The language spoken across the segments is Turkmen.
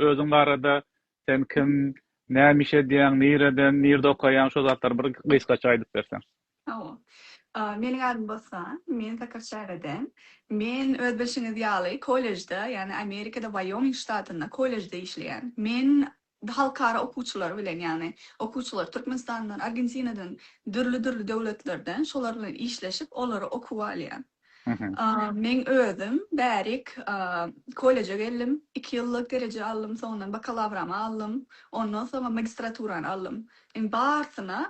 Özüň barada, sen kim, näme iş edýäň, nireden, nirde okaýaň, şo zatlary bir gysgaça aýdyp berseň. Hawa. Meniň adym Bossan. Men Sakarçägeden. Men öz bilşiňiz ýaly kollejde, ýagny Amerikada Waýoming ştatynda kollejde işleýän. Men halkara okuwçylary bilen, ýagny okuwçylar Türkmenistandan, Argentinadan, dürli-dürli döwletlerden şolar bilen işleşip, olary okuwa alýan. Men özüm bärik kolleje geldim, iki ýyllyk dereje aldym, soňundan bakalawramy aldym, ondan soňam magistraturany aldym. Indi barsyna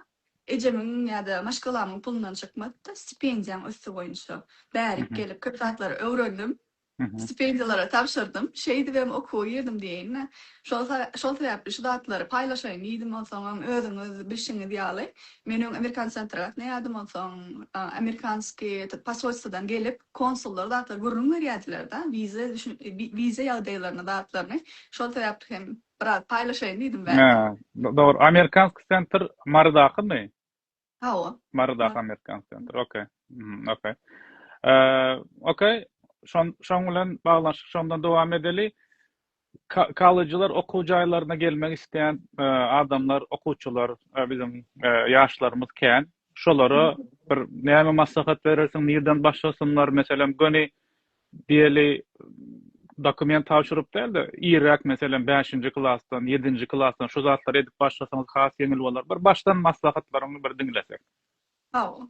ejemiň ýa-da maşgalamyň pulundan çykmady-da, stipendiýaň üsti boýunça bärik gelip köp zatlary öwrendim. Stipendiýalara tabşyrdym. Şeýdibem okuwa girdim diýeýin-dä. Şol sebäpli şu zatlary paýlaşaýyn diýdim. Onsoňam özüňiz bilşiňiz ýaly, men öň amerikan sentra gatnaýardym. Onsoň amerikanskiý eto posolstwadan gelip, konsullar zatlary gürrüň berýärdiler-de, wiza wiza ýagdaýlaryny, zatlaryny. Şol sebäpli hem biraz paýlaşaýyn diýdim, wä. Dogry. Amerikanskiý sentr Marydakymy? Hawa. Marydaky Amerikan Center. Ok. Mhm, ok. Ok. Şon şoň bilen baglanyşyk şondan dowam edeli. Kollejler okuw jaýlaryna gelmek isleýän adamlar, okuwçylar, biziň ýaşlarymyz kän. Şolara bir näme maslahat berersiň, nirden başlasynlar? Meselem, göni Diýeli, dokument tabşyryp däl-de, irräk, meselem, bäşinji klasdan, ýedinji klasdan şu zatlary edip başlasaňyz has ýeňil bolar. Bir başdan maslahatlaryňy bir diňlesek. Hawa.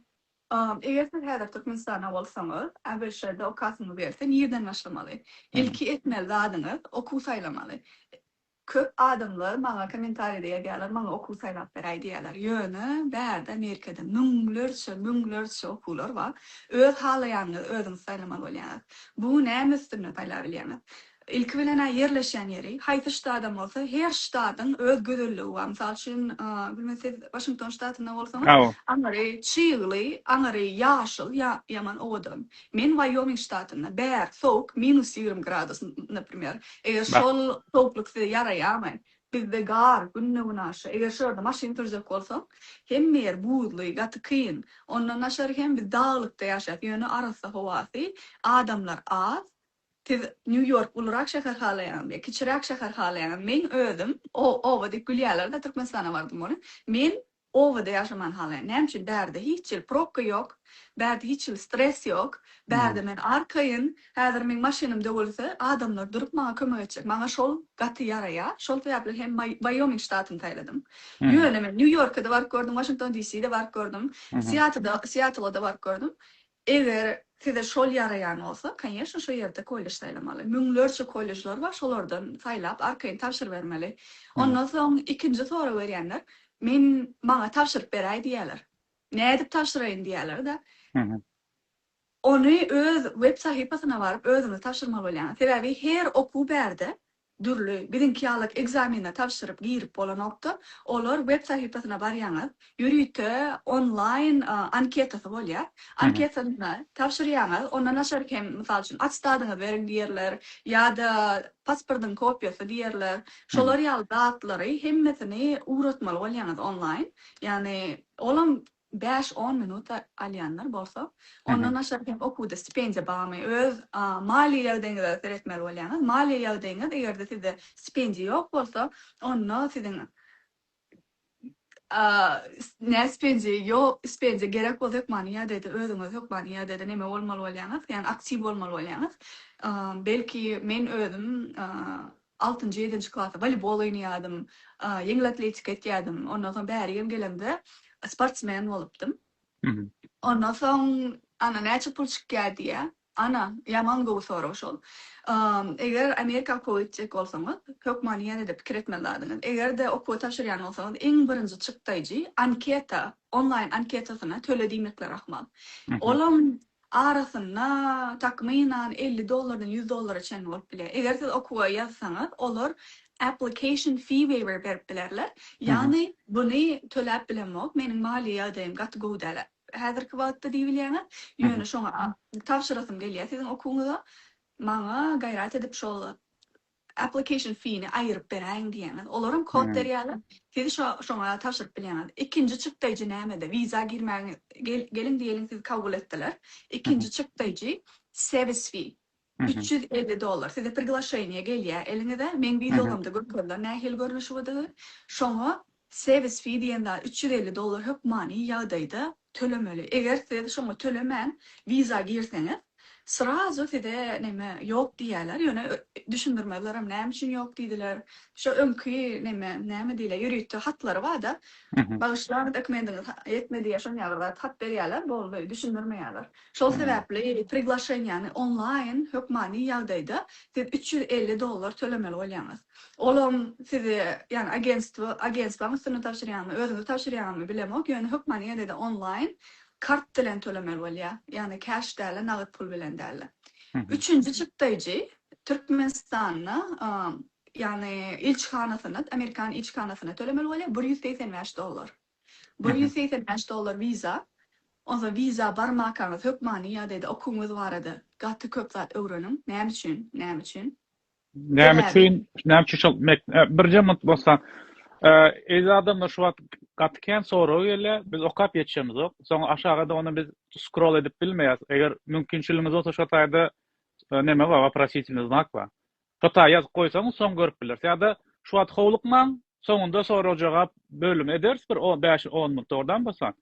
Eger siz häzir Türkmenistanda bolsaňyz, ABŞ-da okasyňyz gelse nireden başlamaly? Ilki etmeli zadyňyz, okuw saýlamaly. Köp adamlar maňa kommentariýada ýazýarlar, maňa okuw saýlap beräý diýýärler. Ýöne bärde Amerikada müňlerçe, müňlerçe okuwlar bar. Öz halaýanyňyzy özüňiz saýlamaly bolýaňyz. Bu näme üstünde saýlap bilýäňiz? Ilki bilen-ä ýerleşýän ýeri, haýsy ştadam bolsa, her ştadyň öz gözelligi bar. Mysal üçin, bilmez siz Waşington ştatynda bolsaňyz, aňyry çygly, aňyry ýaşyl, ýaman owadan. Men Wyoming ştatynda, bär, sowuk, minus ýigrimi gradus, naprimer, eger şol sowuklyk size ýaraýamy? Bizde gar, günde-günaşa, eger şu ýerde maşyn sürjek bolsaň, hemme ýer buzly, gaty kyn. Ondan daşary hem biz daglykda ýaşaýas, ýöne arassa howasy, adamlar az. Siz Nýu-Ýork ulurak şäher halaýaňyzmy ýa kiçiräk şäher halaýaňyzmy? Meň özüm, o, oba diýip gülýärler-de, Türkmenistana bardym, ony, men Obada ýaşaman halaýan. Näme üçin? Bärde hiç hili probka ýok. Bärde hiç hili stres ýok. Bärde men arkaýyn. Häzir meň maşynym döwülse, adamlar durup maňa kömek etjek. Maňa şol gaty ýaraýar. Şol sebäpli hem Waýoming ştatyny saýladym. Ýöne men Nýu-Ýorka-da baryp gördüm, Waşington DC-de baryp gördüm, Siatl-da baryp gördüm. Eger size şol ýaraýan bolsa, konýeşne şo ýerde kollež saýlamaly. Müňlerçe kolležler bar, şolardan saýlap, arkaýyn tabşyrybermeli. Ondan soň ikinji sorag berýänler, Men maňa tabşyryp beräý diýýärler. Nädip tabşyraýyn diýýärler-de. Ony öz web sahypasyna baryp özüňiz tabşyrmaly bolýaňyz. Sebäbi her okuw bärde Dürli, biziňki ýalak ekzameni tabşyryp girip bolanokda, olar web sahypasyna barýaňyz, ýörite onlaýn anketasy bolýar. Anketany tabşyrýaňyz, ondan aşak hem mysal üçin atestadyňyzy beriň diýerler, ýa-da pasportyň kopiýasy diýerler. Şolar ýaly zatlary hemmesini ugratmaly bolýaňyz onlaýn. Ýagny olam Bäş-on minut alýanlar bolsa, ondan aşak hem okuwda stipendiýa barmy? Öz maliýe ýagdaýyňyza seretmeli bolýaňyz. Maliýe ýagdaýyňyz eger-de sizde stipendiýa ýok bolsa, onda siziň nä stipendiýa ýok, stipendiýa gerek bolsa hökmany ýagdaýda özüňiz hökmany ýagdaýda neme bolmaly bolýaňyz, ýagny aktiw bolmaly bolýaňyz. Belki men özüm Altynjy, ýedinji klasda woleýbol oýnaýardym, ýeňil atletika etýärdim. Ondan soň bärigem gelemde sportsmen bolupdym. Ondan soň, ana, näçe pul çykýar diýýä. Ana, ýaman gowy sorag şol. Eger Amerika okuwa gitjek bolsaňyz, hökmany ýene-de pikir etmeli zadyňyz. Eger-de okuwy tabşyrýan bolsaňyz, iň birinji çykdaýjy anketa, onlaýn anketasyna töle diýmekleri ahmal. Olam Arasynda, takmynan, elli dollardan ýüz dollara çenli bolup bilýär. Eger siz okuwa ýazsaňyz, olar application fee waiver berip bilerler. Ýagny buny töläp bilemok, meniň maliýe ýagdaýym gaty gowy däl häzirki wagtda diýbilýäňiz, ýöne şoňa tabşyrasym gelýär siziň okuwyňyza, maňa gaýrat edip şol application fee-ni aýyryp beräýiň diýýäňiz, olaram kod berýärler, siz şo şoňa tabşyryp bilýäňiz. Ikinji çykdaýjy näme-de, wiza girmäge gel geliň diýeliň sizi kabul etdiler, ikinji çykdaýjy sevis fee, üç ýüz elli dollar, size priglaşeniýe gelýär eliňize, meň wizogamda görkezler nähili görnüşiwidigi, şoňa Service fee diýen zat üç ýüz elli dollar hökmany ýagdaýda tölemeli. Eger siz şoňa tölemän wiza girseňiz, srazu size näme ýok diýýärler. Ýöne düşündirmezlerem näme üçin ýok diýdiler. Şo öňki näme näme diýilýär ýörite hatlary barda, bagyşlaň dokumendiňiz ýetmedi ýa şonýa bir zat hat berýärler, boldy, düşündirmeýärler. Şol sebäpli priglaşeniýany onlaýn hökmany ýagdaýda siz üç ýüz elli dollar tölemeli bolýaňyz. Olam sizi ýagny agentstwo agentstwaň üstüne tabşyrýarmy özüňiz tabşyrýarmy bilemok ýöne hökmany ýagdaýda onlaýn kart bilen tölemeli bolýa ýagny cash dälä nagyt pul bilen dälä üçünji çykdaýjy türkmenistanda ýagny ilçihanasyna amerikan ilçihanasyna tölemeli bolýa bir ýüz segsen bäş dollar bir ýüz segsen bäş dollar wiza onsoň wiza barmakaňyz hökmany ýagdaýda okuwyňyz barada gaty köp zat öwreniň näme üçin näme üçin Näme üçin, näme üçin şol mek, e, birje minut bolsa, e, eýle adamlar şu wagt gaty kän sorag gelýär, biz okap ýetişemiz ok. Soň aşaga da ony biz scroll edip bilmeýäs. Eger mümkinçiligiňiz bolsa şu taýda e, näme bar, waprositelny znak bar. Şu taýda ýazyp goýsaň, soň görüp bilersiň. Ýa-da şu wagt howlukmaň, soňunda sorag-jogap bölümi ederis bir 5-10 minut oradan bolsa.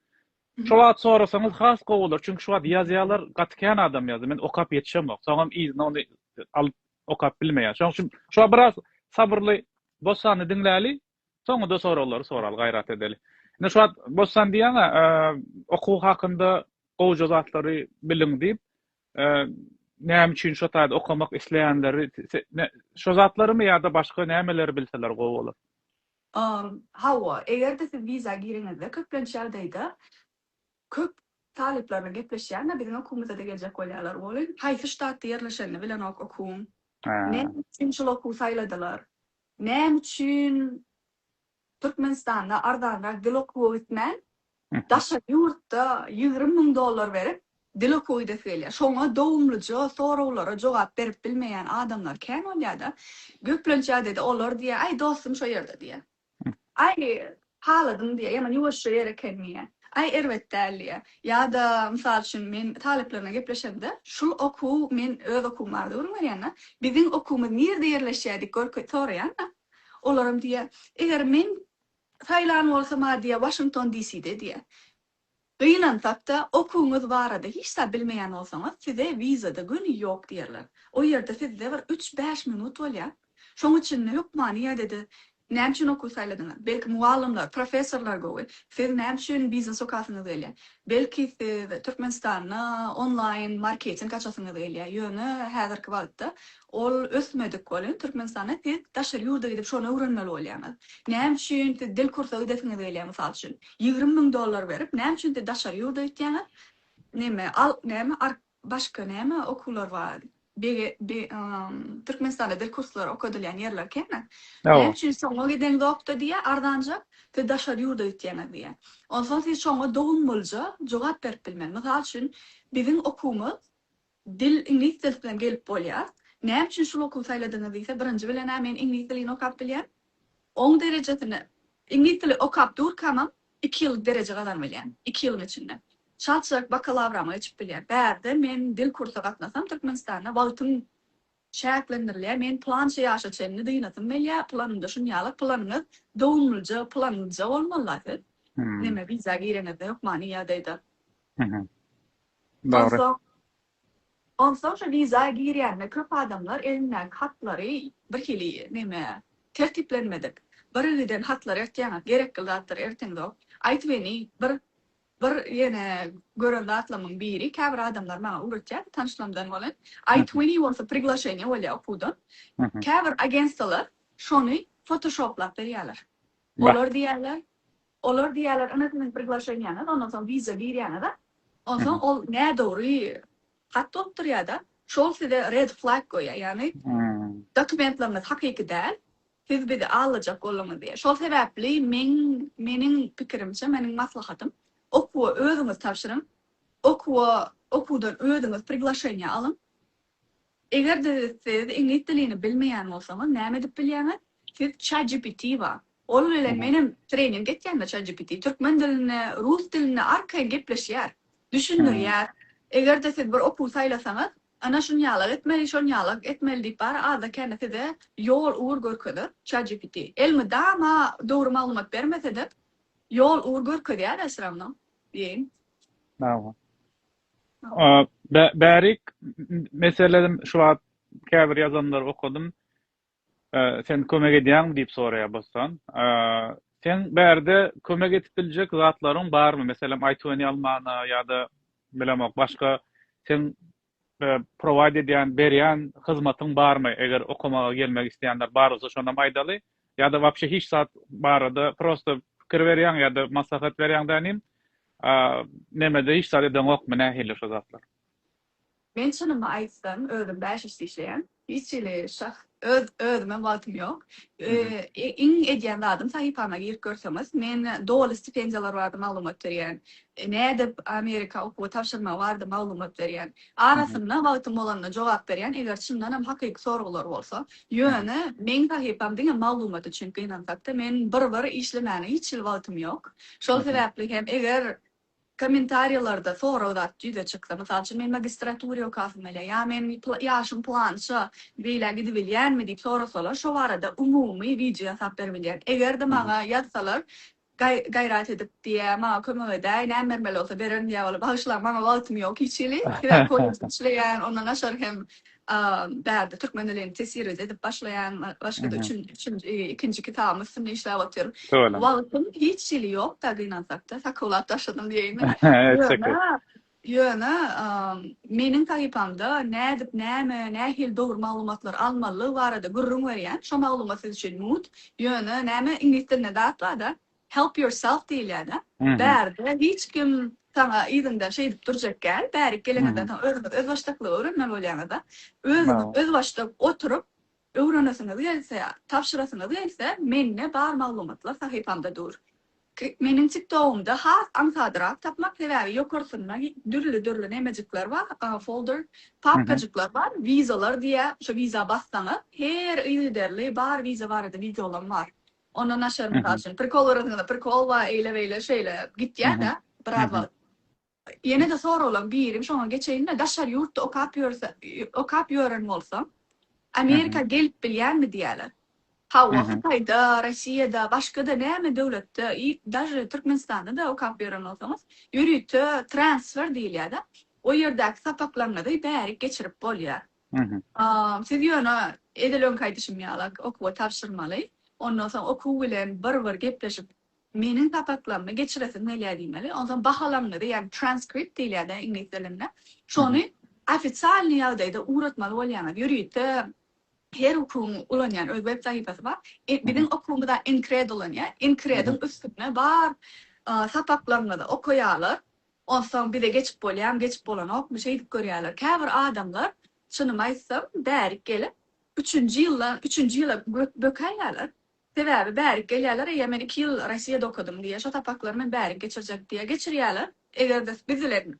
Şo wagt sorasaňyz has gowy bolar, çünki şu wagt ýazýarlar gaty kän adam ýazýar, men okap ýetişemok, soňam yzyna ony alyp okap bilmeýän. Şoň üçin şu wagt biraz sabyrly Bossany diňläli, soňuda soraglary soraly, gaýrat edeli. Ine şu wagt Bossan diýýän-ä, okuw hakynda gowja zatlary biliň diýip, näme üçin şo taýda okamak isleýänleri, şo zatlarymy ýa-da başga nämeleri bilseler gowy bolar? Hawa, eger-de siz wiza gireňizde, köplenç ýagdaýda köp talyplar bilen gepleşýän-de, biziň okuwymyza-da geljek bolýarlar, weli, haýsy ştatda ýerleşenini bilenok okuwyň, näme üçin şol okuwy saýladylar, näme üçin Türkmenistanda arzanrak dil okuwa gitmän, Daşary ýurtda ýigrimi müň dollar berip, dil okuw gidesi gelýär. Şoňa dowumlyja soraglara jogap berip bilmeýän adamlar kän bolýar-da. Köplenç ýagdaýda olar diýýär, Aý, dostum şo ýerde diýýär. Aý, haladym diýýär, ýaman ýuwaşja ýer eken diýýär. Aý, erbet däl diýýär. Ýa-da, mysal üçin, men talyplarymdan gepleşemde, şul okuw, men öz okuwym barada gürrüň berýän-de, biziň okuwymyz nirde ýerleşýär diýip soraýan-da, olaram diýýär, Eger men Saýlan bolsam-a diýýä, Waşington DCde diýýä. Gynansak-da, okuwyňyz barada hiç zat bilmeýän bolsaňyz, size wiza-da göni ýok diýerler. O ýerde sizde bir üç-bäş minut bolýa. Şoň üçin-de hökmany ýadede näme üçin okuw saýladyňyz? Belki mugallymlar, professorlar gowy. Siz näme üçin biznes okasyňyz gelýä? Belki siz Türkmenistanda onlaýn marketing açasyňyz gelýä. Ýöne häzirki wagtda Ol ösmedik welin, Türkmenistanda siz daşary ýurda gidip şony öwrenmeli bolýaňyz. Näme üçin siz dil kursa gidesiňiz gelýär, mysal üçin, ýigrimi müň dollar berip, näme üçin siz daşary ýurda gitýäňiz? Neme, al, näme, ark, başga näme okuwlar bar? Bege, be, ym, Türkmenistanda dil kurslary okadylýan ýerler kemi? Näme Hawa. üçin şoňa gideňzok-da diýýär, arzanjak, siz daşary ýurda gitýäňiz diýýär. Onsoň siz şoňa dogumlyja jogap berip bilmeli. Mysal üçin, biziň okuwymyz Dil iňlis dil bilen gelip bolýar. Näme üçin şul okuwy saýladyňyz diýse, birinji bilen-ä men iňlis dilini okap bilýän. Oň derejesini iňlis dili okap durkamam iki ýyllyk dereje gazanyp bilýän. Iki ýylyň içinde çalt-çalt bakalawramy geçip bilýän. Bärde men dil kursa gatnasam Türkmenistanda wagtym çäklendirilýär, men pylança ýaşa çenli dynasym gelýär, pylanymda şunýaly, pylanyňyz dowumlyja, pylanyňyzja bolmaly-da siz, neme wiza gireňizde hökmany ýagdaýda. Onsoň, onsoň şo wiza girýände köp adamlar elindäki hatlary bir hili neme, tertiplenmedik, birigiden hatlar ertýäňiz, gerekli zatlar erteňzok, aýtybeni bir Bir ýene gören zatlamyň biri, käbir adamlar maňa öwretýärdi, tanyşlamdan bolan, I twenty bolsa priglaşeniýe bolýar okuwdan. Käbir agentstwalar şony fotoshoplap berýärler. Olar diýýärler, olar diýýärler, ine siziň priglaşeniýäňiz, ondan soň wiza girýäňiz-ä, onsoň ol nädogry Hat bolup durýada şol size red flag goýýar ýagny dokumentleriňiz hakyky däl siz bizi aldajak bolduňyz diýýär şol sebäpli men meniň pikirimçe meniň maslahatym okuwa özüňiz tabşyryň okuwa okuwdan özüňiz priglaşeniýa alyň egerde siz iňlis dilini bilmeýän bolsaňyz näme edip bilýäňiz siz chatgpt bar Ol bilen menem trening etýände ChatGPT türkmen dilinde, rus dilinde arkaýyn gepleşýär, düşündirýär. Eger-de siz bir okuw saýlasaňyz, ana şunýalak etmeli, şonýalak etmeli diýip bary azda-kände size ýol ugur görkezer ChatGPT. Elmydama dogry maglumat bermese-de, ýol ugur görkezýär-ä syr ravno diýeýin. Hawa. Bärik meselem şu wagt käbir ýazanlary okadym. Sen kömek edýäňmi? diýip soraýar Bossan. Seň bärde kömek edip biljek zatlaryň barmy? Meselem, iTuny almana ýa-da, bilemok, başga seň prowaýd edýän, berýän hyzmatyň barmy? Eger okamaga gelmek isleýänler bar bolsa, şonam aýdaly. Ýa-da wapşe hiç zat barada prosta pikir berýäň ýa-da maslahat berýäň dänim? Nemede hiç zat edeňokmy? Nähili şu zatlar? Men çynymy aýtsam özüm bäş işde işleýän. Hiç hili şahs öz özümem wagtym ýok. Iň edýän zadym sahypama girip görseňiz men doly stipendiýalar barada maglumat berýän. Nädip Amerika okuwa tabşyrmagy barada maglumat berýän. Arasynda wagtym bolanda jogap berýän eger çyndanam hakyky soraglar bolsa. Ýöne meň sahypam diňe maglumat üçin gynansakda men bir bir işlemäne hiç hili wagtym ýok. Şol sebäpli hem eger Kommentariýalarda sorag zat ýüze çyksa, mysal üçin, men magistratura okasamyly ýa men ýaşym pylança beýlä gidibilýänmi diýip sorasalar, şo barada umumy wideo ýasap beribilýär. Eger-de maňa ýazsalar, gaýrat edip diýä, maňa kömek edäý, näme bermeli bolsa bererin diýä bolup, bagyşlaň, maňa wagtym ýok hiç hili, sebäbi kollejde işleýän, ondan daşary hem A bärde türkmen dilini tesirede edip başlaýan başgada üçin üçünji ikinji kitabyň üstünde işläp otyryn. Söwelem. Wagtyň hiç hili ýok-da gynansakda sakowlap taşladym diýeýinmi. Ýöne ýöne meniň sahypamda nädip näme nähili dogry maglumatlary almalydygy barada gürrüň berýän. Şo maglumat siz üçin mut. Ýöne näme iňlis dilinde zat bar-da. Help yourself diýilýär-dä. Bärde hiç kim saňa yzyňdan şeýdip durjak däl. Bärik geleňizden soň özüňiz özbaşdaklygy öwrenmeli bolýaňyz-da. Özüňiz özbaşdak oturyp, öwrenesiňiz gelse, tabşyrasyňyz gelse, mende bar maglumatlar sahypamda dur. Meniň TikTogumda has aňsadrak tapmak, sebäbi ýokarsynda dürli-dürli nemejikler bar, folder, papkajyklar bar, wizalar diýýär. Şo wiza bassaňyz, her yzygiderli bar wiza barada wideolam bar. Ondan naşar mysal üçin prikol garasaňyzam prikol bar eýle beýle şeýle gitýäda biraz wagt. Ýenede soraglaň birim şoňa geçeýinda daşary ýurtda okap ýörse okap ýören bolsaň Amerika gelip bilýärmi diýýäler. Hawa Hytaýda, Rossiýada, başgada näme döwletde i daže Türkmenistanda-da okap ýören bolsaňyz ýörite transfer diýilýäda o ýerdäki sapaklaryňyzy bärik geçirip bolýar. Siz ýöne edil öňki aýdyşym ýala okuwa tabşyrmaly. Ondan soň okuw bilen bir-bir gepleşip, meniň sapaklarymy geçiresim gelýär diýmeli. Ondan soň bahalaryňyzy, ýagny transkript diýilýär-de iňlis dilinde, şony ofitsialnyý ýagdaýda ugratmaly bolýaňyz. Ýörite her okuwyň ulanýan öz web sahypasy bar. Biziň okuwymyza Enkred ulanýar. Enkrediň üstünde bar sapaklaryňyzy okaýarlar. Onsoň bize geçip bolýamy, geçip bolanokmy şeýdip görýärler. Käbir adamlar, çynymy aýtsam, bärik gelip, üçünji ýylda, üçünji ýyla bökäýýärler. Sebäbi bärik gelýärler, eýe, men iki ýyl Rossiýada okadym diýýär, şo sapaklary men bärik geçirjek diýýär. Geçirýärler. Eger-de biz bilen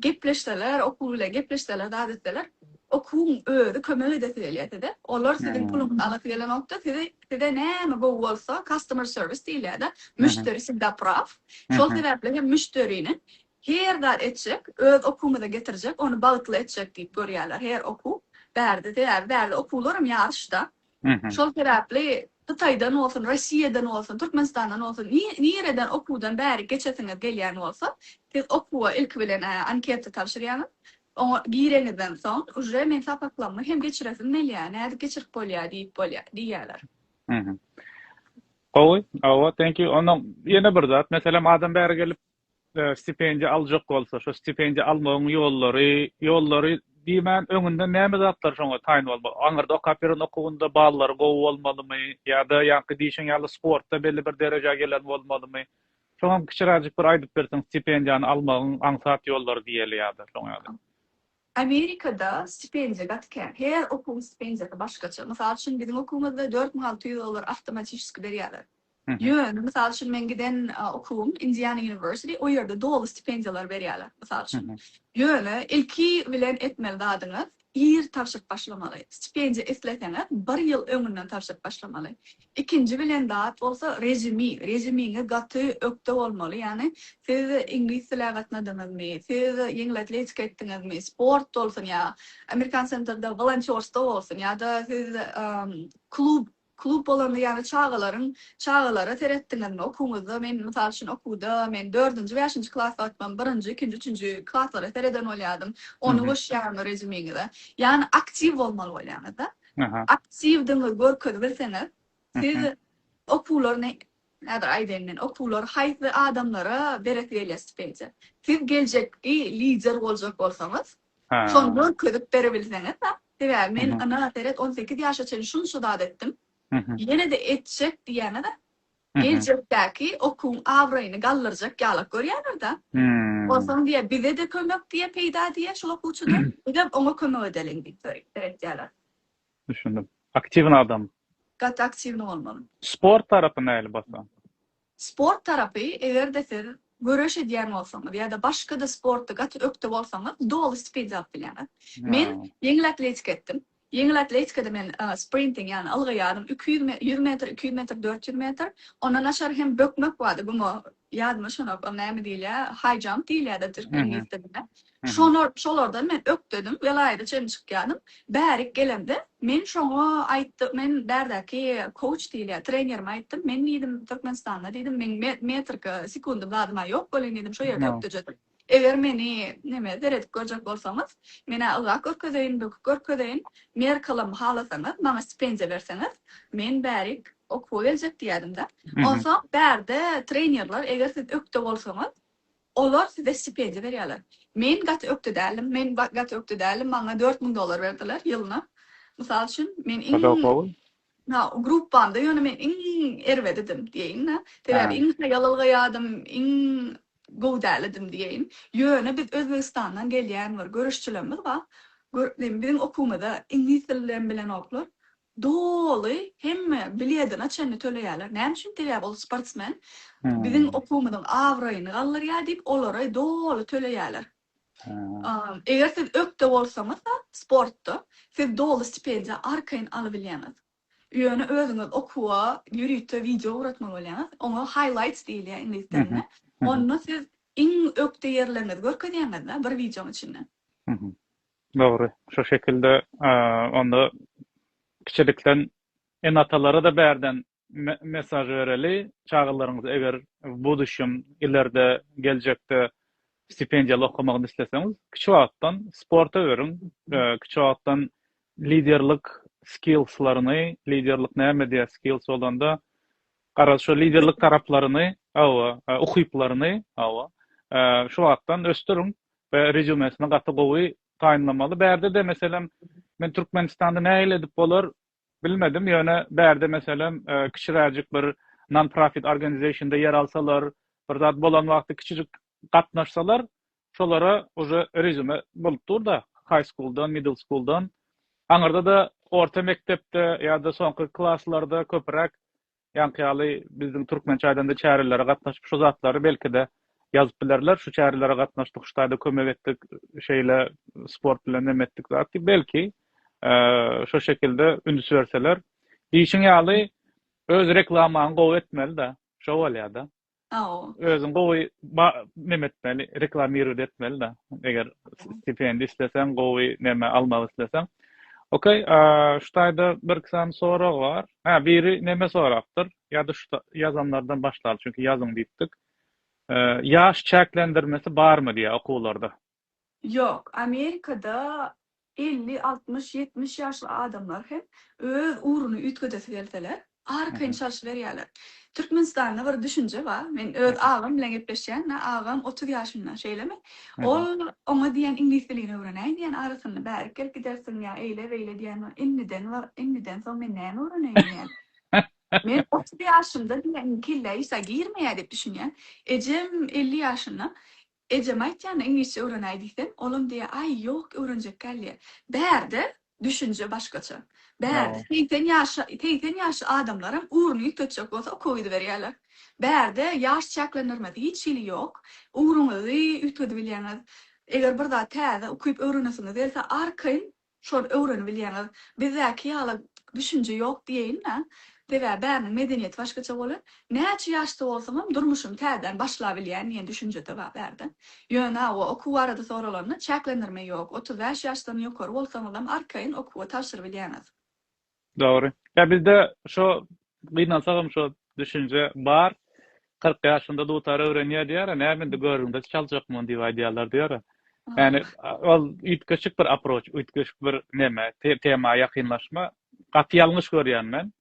gepleşseler, okuw bilen gepleşseler, zat etseler, okuwyň özi kömek edesi gelýär size. Olar siziň puluňyzy alasy gelenok-da, sizi Size näme gowy bolsa, customer service diýilýär-de, müşderi wsegdapraw. Şol sebäpli hem müşderini her zat etjek, öz okuwymyza getirjek, ony bagtly etjek diýip görýärler her okuw. Bärde, sebäbi bärde okuwlar hem ýaryşda. Şol sebäpli Hytaýdan bolsun, Rossiýadan bolsun, Türkmenistandan bolsun, nireden okuwdan bärik geçesiňiz gelýän bolsa, siz okuwa ilki bilen anketa tabşyrýaňyz. Oňa girenizden soň, uje men sapaklamy hem geçiresim melýär, nädip geçirip bolýar diýip bolýar, diýýärler. Mhm. Gowy, awa, thank you. Onda ýene bir zat, meselem, adam bäri gelip, stipendiýa aljak bolsa, şo stipendiýa almagyň ýollary, ýollary diýmän, öňünden näme zatlar şoňa taýyn bolmaly? Aňyrda okap ýören okuwynda ballary gowy bolmalymy ýa-da ýaňky diýşiň ýaly sportda belli bir derejä gelen bolmalymy? Soňam kiçiräjik bir aýdyp berseň stipendiýany almagyň aňsat ýollary diýeli ýa-da şoň ýaly. Amerikada stipendiýa gaty kän. Her okuwyň stipendiýasy başgaça. Mysal üçin biziň okuwymyzda dört müň alty ýüz dollar awtomatişski berýärler. Ýöne mysal üçin meň giden okuwym Indiana University o ýerde doly stipendiýalary berýärler. Mysal üçin. Ýöne ilki bilen etmeli zadyňyz Ir tabşyryp başlamaly. Stipendiýa isleseňiz bir ýyl öňünden tabşyryp başlamaly. Ikinji bilen zat bolsa rezümi. Rezümiňiz gaty ökde bolmaly. Ýagny siz iňlis dili gatnadyňyzmy, siz ýeňil atletika etdiňizmi, sport bolsun ýa American Center'da wolontýorstwo bolsun ýa-da siz klub Klub bolanda ýaly çagalaryň çagalara seretdiňizmi? Okuwňyzda men mysal üçin okuwda men dördünji bäşinji klas wagtym birinji ikinji üçünji klaslara sereden bolýadym ony goşýarmy rezümiňize ýagny aktiw bolmaly bolýaňyzda aktiwdigiňizi görkezip bilseňiz siz okuwlaryny häzir aýdaýyn men okuwlary haýsy adamlara beresi gelýär stipendýa siz geljekki lider boljak bolsaňyz Şony görkezip berebilseňiz-a. Sebäbi men ynha seret on sekiz ýaşa çenli şunça zat etdim. Ýene-de etjek diýýän-a-da. Geljekdäki okuwyň abraýyny galdyrjak ýalak görýändir-dä. Onsoň diýýär, bize-de kömek diýýär, peýda diýýär şol okuwçydan. Bizem oňa kömek edeliň diýip seretýärler. Düşündim. Aktiwny adam. Gaty aktiwny bolmaly. Sport tarapy nähili basa? Sport tarapy, eger-de siz göreş edýän bolsaňyz ýa-da başga-da sportda gaty ökde bolsaňyz, doly stipendiýa alyp bilýäňiz. Men ýeňil atletika etdim. Ýeňil atletikada men sprinting, ýagny ylga ýarym, iki ýüz ýüz metr, iki ýüz metr, dört ýüz metr, ondan naçar hem bökmek bardy, guma, ýadyma şonap, ol näme diýilýär, high jump diýilýär-de türkmen ýüz dilinde. Şolar, şolardan men ökdedim, welaýata çenli çykýadym. Bärik gelemde, men şoňa aýtdy, men bärdäki kouç diýilýä, trenerime aýtdym, men diýdim, Türkmenistanda diýdim, meň metrika, sekundym zadym-a ýok welin diýdim, şo ýerde ökdejedim. Eger meni, neme, seredip görjek bolsaňyz, men-ä ylgap görkezeýin, böküp görkezeýin, merkalam halasaňyz, maňa stipendiýa berseňiz, men bärik okuwa geljek diýýädim-de. Onsoň bärde trenerler, eger siz ökde bolsaňyz, Olar size stipendiýa berýärler. Men gaty ökde däldim, men gaty ökde däldim, maňa dört müň dollar berdiler ýylyna. Mysal üçin, men iň, ha, gruppamda ýöne men iň erbedidim diýeýin-de. Sebäbi iň haýalylgaýadym, iň gowy dälidim diýeýin. Ýöne biz Özbegistandan gelýän bir göreşçilerimiz bar. Biziň okuwymyza iňlis dilinem bilenoklar. Doly hemme biledine çenli töleýärler. Näme üçin? Sebäbi ol sportsmen biziň okuwymyzyň abraýyny galdyrýar diýip olara doly töleýärler. Eger siz ökde bolsaňyzda sportda siz doly stipendiýa arkaýyn alybilýäňiz. Ýöne özüňiz okuwa ýörite wideo ugratmaly bolýaňyz. Oňa highlights diýilýär iňlis dilinde. Onda siz iň ökde ýerleriňizi görkezýäňizda bir wideonyň içinde. Dogry. Şu şekilde onda kiçilikden ene-atalara-da bärden me-mesaž bereli, çagalaryňyz eger w buduşýam, ilerde, geljekde stipendiýaly okamagyny isleseňiz, kiçi wagtdan sporta beriň, kiçi wagtdan liderlik skillslaryny, liderlik näme diýýär skills bolanda, garaz, şo liderlik taraplaryny, hawa, ukyplaryny, hawa, şu wagtdan ösdüriň. we rezumesini gaty gowy taýynlamaly. Bärde-de meselem men Türkmenistanda nähili edip bolar bilmedim, ýöne bärde meselem kiçiräjik bir non-profit organization-da ýer alsalar, bir zat bolan wagty kiçijik gatnaşsalar, şolara uje rezume bolup dur-da, high school-dan, middle school-dan, aňyrda-da orta mekdepde ýa-da soňky klaslarda köpüräk Ýaňky ýaly bizdiň türkmen çaýdanda çärelere gatnaşyp şu zatlary belkide ýazyp bilerler şu çärelere gatnaşdyk şu taýda kömek etdik şeýle sport bilen neme etdik zat diýip belki şo şekilde üns berseler diýşiň ýaly öz reklamaňy gowy etmelida şo bolýada. Saoo. Özüň gowy ba neme etmeli reklamirowat etmeli da eger stipendi isleseň gowy neme almak isleseň ok a şu taýda bir iki sany sorag bar ha biri neme sorapdyr ýa-da şu ýazanlardan başlaly çünki ýazyň diýipdik ýaş çäklendirmesi barmy diýýär okuwlarda Ýok, Amerikada elli, altmyş, ýetmiş ýaşly adamlar hem öz ugruny üýtgedesi gelseler, arkaýyn çalşyberýärler. Türkmenistanda bir düşünje bar, men öz agam bilen gepleşýän-de, agam otuz ýaşynda, şeýlemi? Ol oňa diýýän iňlis dilini öwrenäý diýýän, arasynda bärik gelip gidersiň ýa eýle-beýle diýýän bar, indiden bar, indiden soň men näme öwreneýin diýýän. Men otuz ýaşymda diýýän kellä işa girmeýär diýip düşünýän. Ejem elli ýaşynda, Ejem aýtýan iňlisçe öwrenäý diýsem, olam diýýä, Aý, ýok, öwrenjek däldiýä. Bärde düşünje başgaça. Bärde segsen ýaşa, segsen ýaşy adamlaram ugruny ýütetjek bolsa okowiziberýärler. Bärde ýaş çäklendirmesi hiç hili ýok. Ugruňyzy üýtgedibilýäňiz. Eger bir zat täze ukyp öwrenesiňiz gelse, arkaýyn Şol öwrenibilýäňiz. Bizdäki ýaly düşünje ýok diýeýin-dä. Sebäbi bäriniň medeniýeti başgaça bolan. Näçe ýaşda bolsaňam durmuşymy täzeden başlabilýän diýen düşünje-de bar bärde. Ýöne hawa, okuw barada soralanda, çäklendirme ýok. Otuz bäş ýaşdan ýokary bolsaňyzam arkaýyn okuwa tabşyrybilýäňiz. Dogry. Ýa bizde şo gynansagam şo düşünje bar. Kyrk ýaşynda dutar öwrenýär diýýärä, näme indi görgüňde çaljak muny diýip aýdýarlar diýýärä. Ýani ol üýtgeşik bir aproç, üýtgeşik bir neme, tema ýakynlaşma. Gaty ýalňyş görýän men.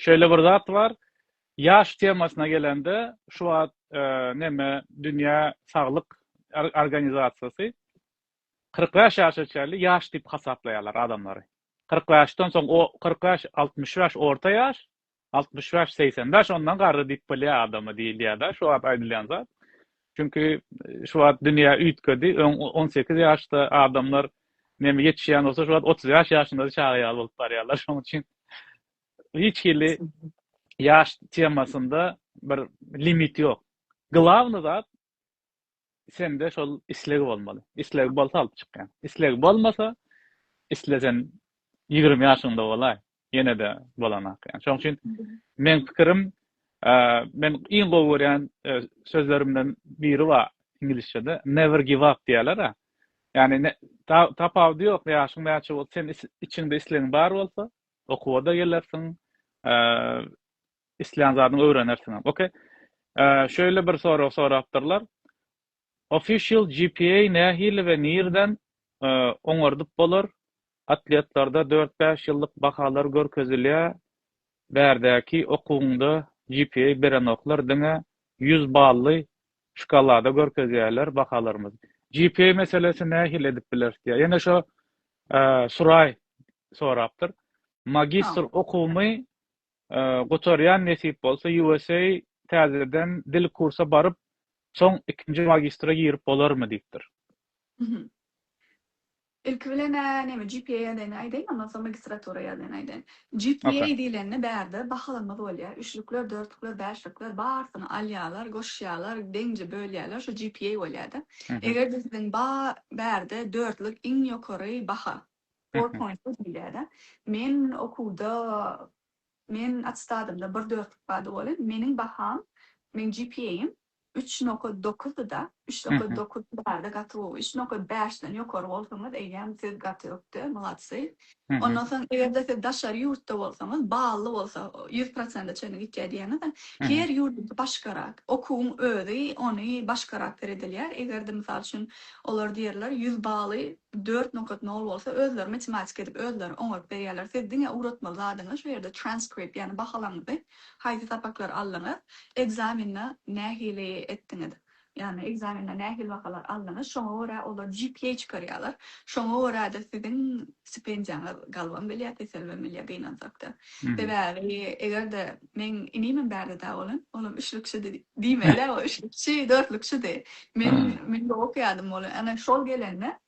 Şeýle bir zat bar, ýaş temasyna gelende şu wagt neme dünýä saglyk organizasiýasy Kyrk bäş ýaşa çenli ýaş diýip hasaplaýarlar adamlary. Kyrk bäşden soň o, kyrk bäş, altmyş bäş orta ýaş, altmyş bäş, segsen bäş ondan garry diýip bolýar adama diýilýär-dä şu wagt aýdylýan zat. Çünki şu wagt dünýä üýtgedi, öň on sekiz ýaşda adamlar neme ýetişýän bolsa şu wagt otuz bäş ýaşynda-da çaga ýaly bolup barýarlar. Şonuň üçin hiç hili ýaş temasynda bir limit ýok. Glawny zat sende şol isleg bolmaly. Isleg bolsa alyp çykýan. Isleg bolmasa, islesen 20 ýaşyňda bolaý, ýene-de bolanak. Ýani şoň üçin men pikirim, men iň gowy görýän e, sözlerimden biri bar inglizçede, never give up diýerler-a. Ýani tapawudy ýok, ýaşyň näçe bolsa, sen içiňde islegiň bar bolsa, okuwa-da gelersiň, Islän zadyňy öwrenersiňem. Ok. Şeýle bir sorag sorapdyrlar. Official GPA nähili we nirden oňardyp bolar? Atletlarda dört bäş ýyllyk bahalar görkezilýä bärdäki okuwyňda GPA berenoklar diňe ýüz bally şkalada görkezýäler bahalarymyzy. GPA meselesi nähili edip bileris diýýä. Ýene şo Suray sorapdyr. Magistr okuwymy Gutarýan nesip bolsa USA täzeden dil kursa baryp soň ikinji magistra girip bolarmy diýipdir. Ilki bilen-ä näme GPA ýagdaýyny aýdaýyn ondan soň magistratura ýagdaýyny aýdaýyn. GPA diýlende bärde bahalanma bolýar üçlükler dörtlükler bäşlikler barysyny alýarlar goşýarlar deňje bölýärler şu GPA bolýada. Eger-de siziň ba bärde dörtlük iň ýokary baha. Four Mhm. point diýilýär-ä. Men okuwda, men attestadymda bir dörtlük bardy welin, meniň baham, meniň GPA-ym üç nokat dokuzdy-da, üç nokat Mhm. dokuz bardy, gaty gowy. Üç nokat bäşden ýokary bolsaňyz, eýýäm siz gaty ökde, mladsy. Mhm. Ondan soň, eger-de siz daşary ýurtda bolsaňyz, bally bolsa, ýüz prosente çenli gitýär diýýäňiz-ä. Mhm. Her ýurduňky başgarak. Okuwyň özi ony başgarak seredilýär. Eger-de, mysal üçin, olar diýerler, ýüz baly Dört nokat nol bolsa özleri matematik edip özleri oňaryp berýärler siz diňe ugratmaly zadyňyz şu ýerde transkript ýagny bahalaňyzy haýsy sapaklary aldyňyz ekzamende nähili etdiňiz ýagny ekzamende nähili bahalar aldyňyz şoňa görä olar GPA çykarýarlar şoňa göräde siziň stipendiýaňyz galbam bilýär peselbem bilýär gynansak da sebäbi egerde Meň inimem bärde dag bolan. Olam üçlükçidi. Diýmeli-ä, o üçlükçi, dörtlükçidi. Men, men gowy okaýardym. Ol ana şol gelende,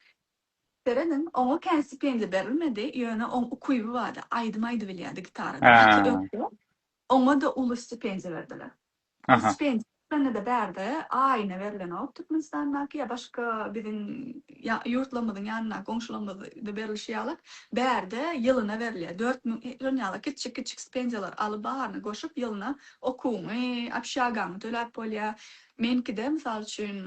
serediň, oňa kän stipendiýa berilmedi, ýöne oň ukyby bardy, aýdym aýdybilýärdi gitaradan. Gaty ökde. Oňa-da uly stipendiýa berdiler. Ol stipendiýa Şonda-da bärde aýyna berilenok Türkmenistandaky ýa başga biziň ýurtlarymyzyň ýanyndaky goňşularymyzda berlişi ýaly bärde ýylyna berilýär. Dört müň şon ýaly kiçijik kiçijik stipendiýalar alyp baryny goşup ýylyna okuwyňy, obşagaňy töläp bolýar. Meňkide mysal üçin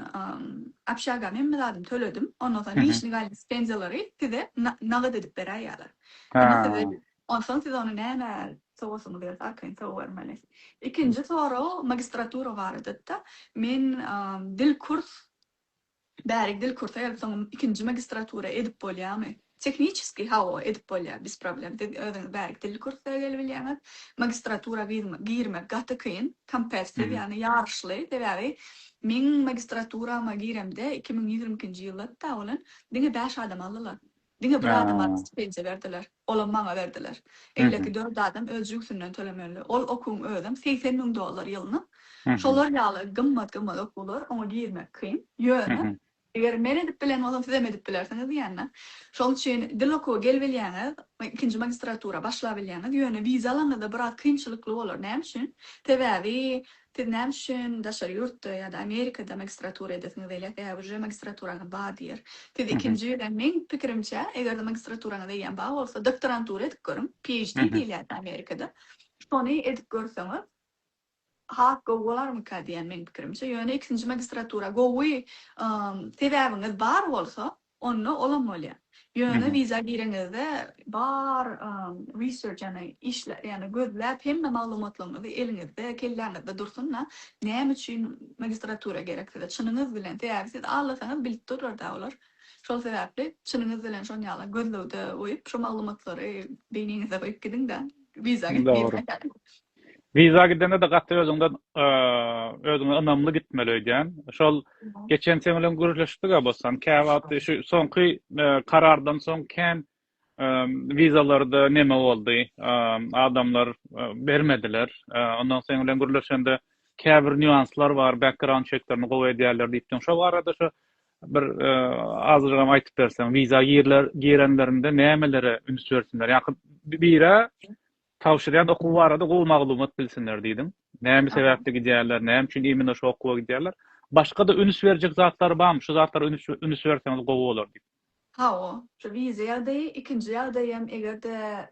obşagam hemme zadymy töledim. Ondan soň nižniý galin stipendiýalary size nagt edip beräýýärler. Indi size Onsoň siz ony nämä sowasyňyz gelse arkaýyn sowabermeli. Ikinji sorag magistratura barada-da. Men dil kurs bärik dil kursa gelip soň ikinji magistratura edip bolýamy? Tehniçeskiý hawa edip bolýar biz problem siz özüňiz bärik dil kursa gelibilýäňiz. Magistratura girmek gaty kyn kompetitiv ýagny ýaryşly sebäbi meň magistraturama giremde iki müň ýigrimi ikinji ýylda hatta bolan diňe bäş adam aldylar. Diňe bir adama stipendiýa berdiler. Olam maňa berdiler. Eýleki dört adam öz jübsünden tölemeli. Ol okuwyň özem segsen müň dollar ýylyna. Şolar ýaly gymmat-gymmat okuwlar, oňa girmek kyn. Ýöne, eger men edip bilen bolsam, sizem edip bilersiňiz diýende. Şoň üçin dil okuwa gelibilýäňiz, ikinji magistratura başlabilýäňiz. Ýöne wiza alanyňyzda biraz kynçylykly bolar. Näme üçin? Sebäbi Siz näme üçin daşary ýurtda ýa-da Amerikada magistratura edesiňiz gelýär? Ä, uje magistraturaňyz bar diýer. Siz ikinji ýüzden, meň pikirimçe, eger-de magistraturaňyz eýýäm bar bolsa, doktorantura edip görüň, PHD diýilýärdi Amerikada. Şony edip görseňiz, has gowy bolarmyka diýýän meň pikirimçe. Ýöne ikinji magistratura gowy sebäbiňiz bar bolsa, Onda olam bolýa. Ýöne wiza gireňizde bar research ýagny işläp ýagny gözläp hemme maglumatlaryňyzy eliňizde kelläňizde dursun-da näme üçin magistratura gerek size çynyňyz bilen sebäbi siz aglasaňyz bilip durlar-da olar şol sebäpli çynyňyz bilen şon ýala gözlegde goýup şo maglumatlary beýniňizde goýup gidiň-de wiza girmäge Viza gidende-de gaty özüňden özüňe ynamly gitmeli öýdýän. Şol geçen sen bilen gürleşdik-ä bossan, käwagt şu soňky karardan soň kän wizalarda neme boldy, adamlar bermediler. Ondan sen bilen gürleşende käbir nýuanslar bar, background çeklerini gowy edýärler diýipdiň. Şo barada şu bir azajygam aýdyp berseň, wiza girenlerinde nämelere üns bersinler? Ýa-ha bire Tabşyrýan okuwy barada gowy maglumat bilsinler diýdim. Näme sebäpli gidýärler, näme üçin imенно şu okuwa gidýärler? Başga-da üns berjek zatlary barmy? Şu zatlara üns berseňiz gowy bolar diýip. Hawa, şu wiza ýagdaýy, ikinji ýagdaý hem eger-de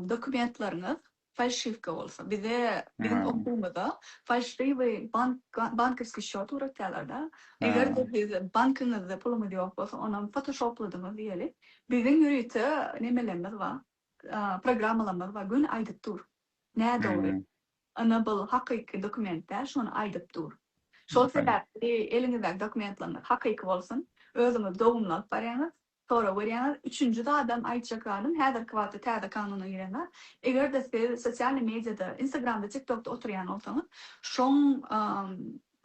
dokumentleriňiz falşiwka bolsa. Bize biziň okuwymyza falşiwi bank bankowskiý şot ugratýarlar-da. Eger-de biz bankyňyzda pulumyz ýok bolsa, onam fotoşopladyňyz diýeli. Biziň ýörite nemelerimiz bar. programmalamaz bar göni aýdyp dur. Nädogry. Ynha bul hakyky dokument däl şony aýdyp dur. Şol sebäpli eliňizdäki dokumentlaryňyz hakyky bolsun. Özüňiz dogumly alyp barýaňyz. Sorag berýäňiz. Üçünji zadam aýtjak zadym häzirki wagtda täze kanuna giren zat. Eger-de siz sosialny mediada Instagramda TikTokda oturýan bolsaňyz şoň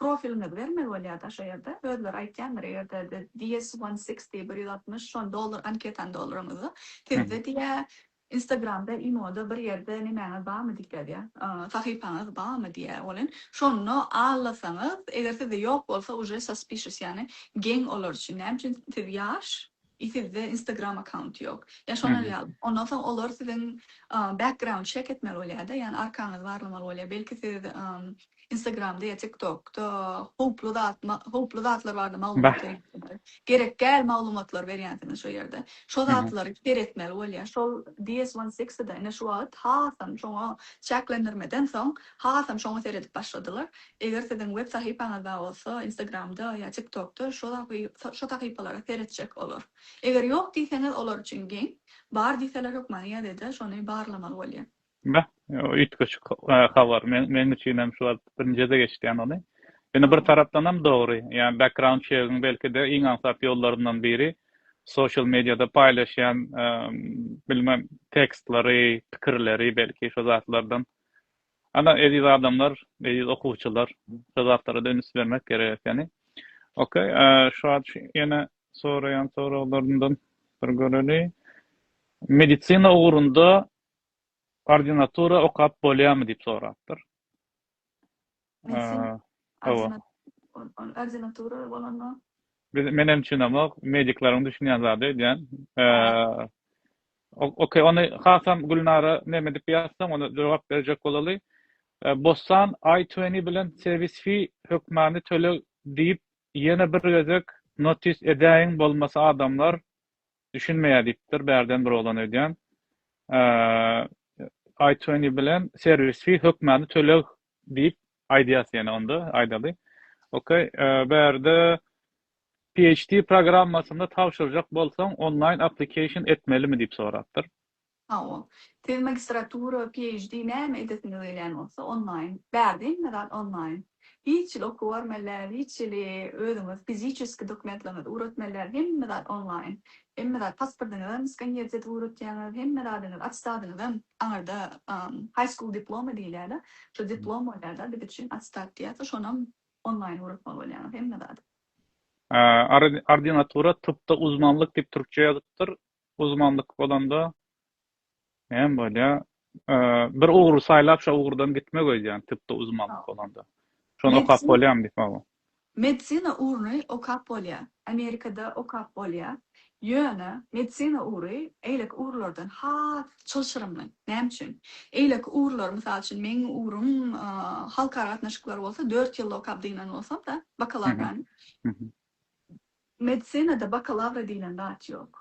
Profiliňizi bermeli bolýar-da şo ýerde. Özleri aýtýandyr, eger-de the DS one sixty, bir ýüz altmyş, şony doldur, anketany dolduraňyzda, sizde diýýä, Instagramda, imoda bir ýerde nemäňiz barmy diýip ýazýar, sahypaňyz barmy diýýä welin, şonda allasaňyz, eger sizde ýok bolsa, uje suspicious, ýagny geň olar üçin, näme üçin siz ýaş, I sizde instagram account yok. Ya şolar ýaly. Ondan soň olar siziň background check etmeli bolýada, ýani arkaňyzy barlamaly bolýa. Belki siz instagramda ya tiktokda howply zat howply zatlar barada maglumat berýänsiňiz. Gerek däl maglumatlar berýänsiňiz şo ýerde. Şo zatlary seretmeli bolýa. Şol DS one sixty da ine şu wagt hasam şoňa çäklendirmeden soň hasam şoňa seredip başladylar. Eger siziň web sahypaňyzda bolsa instagramda ýa tiktokda şo sahypalara seretjek olar. Eger ýok diýseňiz olar üçin geň, bar diýseler hökman ýa-da şony barlamaly bolýar. Beh, üýtgeşik habar. Meň üçinem şu wagt birinjide geçdi ýany ony. Ýöne bir tarapdanam dogry. Ýa background çegiň belkide iň aňsat ýollaryndan biri social mediada paýlaşýan bilmem tekstlary, pikirleri belki şo zatlardan Ana eziz adamlar, eziz okuwçylar şu zatlara-da üns bermek gerek ekeni. Ok, şu wagt ýene soraýan soraglarymdan bir göreli. Medisina ugrunda ordinatura okap bolýarmy diýip sorapdyr. Hawa. Ordinatura bolanda? Menem düşünemok, medikleriň düşünýän zady öýdýän. Okey ony hasam Gülnara neme dip ýazsaň ony jogap berjek bolaly. Bossan I twenty bilen serwis fee hökmany töleg diýip ýene bir gezek notis edäýiň bolmasa adamlar düşünmeýär diýipdir bärden bir oglan öýdýän I twenty bilen serwis fee hökmany töleg Diýip aýdýas ýene onda aýdaly. Ok, bärde PHT programmasynda tabşyrjak bolsaň online application etmelimi diýip sorapdyr. Hawa. Siz magistratura, PHD näme edesiňiz gelýän bolsa online. Bärde hemme zat online. Hiç ýyl okuw barmaly däl, hiç ýyl özüňiz fiziçeski dokumentleriňizi ugratmaly däl, hemme zat online. Hemme zat, pasportyňyzam skanner edip ugratýaňyz, hemme zadyňyz, atestadyňyzam, aňyrda high school diplomy diýilýär-de, şo diplom bolýar-da, biz üçin atestat diýýärsi, şonam onlaýn ugratmaly bolýaňyz, hemme zady. Ordinatura, typda uzmanlyk diýip türkçe ýazypdyr, uzmanlyk bolanda Näme bolýar? Bir ugry saýlap, şo ugurdan gitmek öýdýän, tibde uzmanlyk bolanda. Şony okap bolýarmy diýip, hawa. Medisina ugruny okap bolýar. Amerikada okap bolýar. Ýöne medisina ugry eýleki ugurlardan has çylşyrymly. Näme üçin? Eýleki ugurlar, mysal üçin, meň ugrym halkara gatnaşyklary bolsa, dört ýylda okap dynýan bolsam-da, bakalawrany. Medisinada bakalawra diýlen zat ýok.